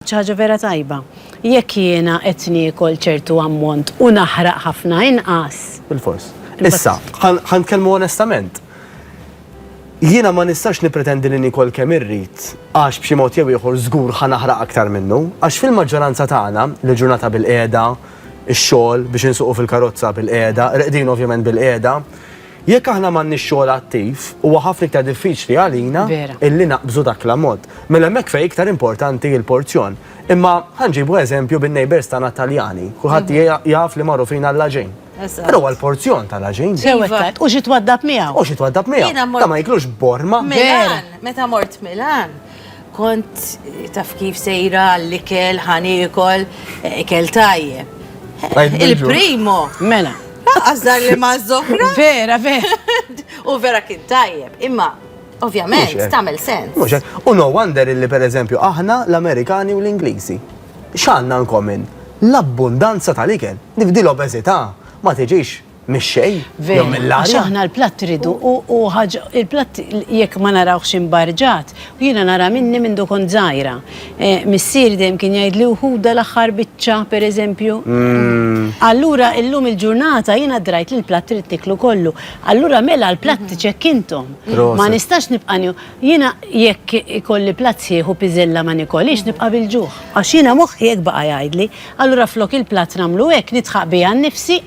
Xi ħaġa vera tajba. Jekk jiena qed niekol ċertu ammont u naħraq ħafna inqas. Bilfors. Issa, ħa nitkellmu onestament. Jiena ma nistax nippretendi li niekol kemm irrid għax b'xi mod jew ieħor żgur ħa naħraq aktar minnu, għax fil-maġġoranza tagħna, li l-ġurnata bilqiegħda, ix-xogħol, biex insuqu fil-karozza bilqiegħda, reqdin ovvjament bilqiegħda, Jekk aħna m'għandniex xogħol attiv, huwa ħafna iktar diffiċli għalina illi naqbżu dak l-ammont. Mela hemmhekk fejn iktar importanti l-porzjon. Imma ħa nġibu eżempju bin-neighbours tagħna Taljani. Kulħadd jaf li magħrufin għall-għaġin. Però huwa l-porzjon tal-għaġin. U xi twaddab miegħu. U xi twaddab miegħu. Ta' ma jiklux borma. Milan, meta mort Milan, Kont taf kif sejra għall-ikel, ħa niekol, ikel tajjeb. Il-primo. Mela. Laqqas dar li ma' żohra. Vera, vera. U vera kien tajjeb. Imma Ovvjament, tamel sens. Muxek, u no wonder illi per eżempju aħna l-Amerikani u l-Inglisi. Xanna nkomin? L-abbundanza tal-ikel. Nifdi l-obezita, ma tiġix Mix-xejn, jew mill-arja. Għax aħna l-platt irridu u ħaġa il-platt jekk ma narawhx imbarġat, u jiena nara minni mindu kont żgħira. Missieri dejjem kien jgħidli u ħudha l-aħħar biċċa pereżempju. Allura illum il-ġurnata jiena drajt li l-platt irid nieklu kollu. Allura mela l-platt iċekkinthom. Ma nistax nibqa' nieħu. Jiena jekk ikolli platt sħiħ u piżella ma nikolhiex nibqa' bil-ġuħ. Għax jiena moħħi hekk baqa' jgħidli. Allura flok il-platt nagħmlu hekk, nidħaq biha nnifsi.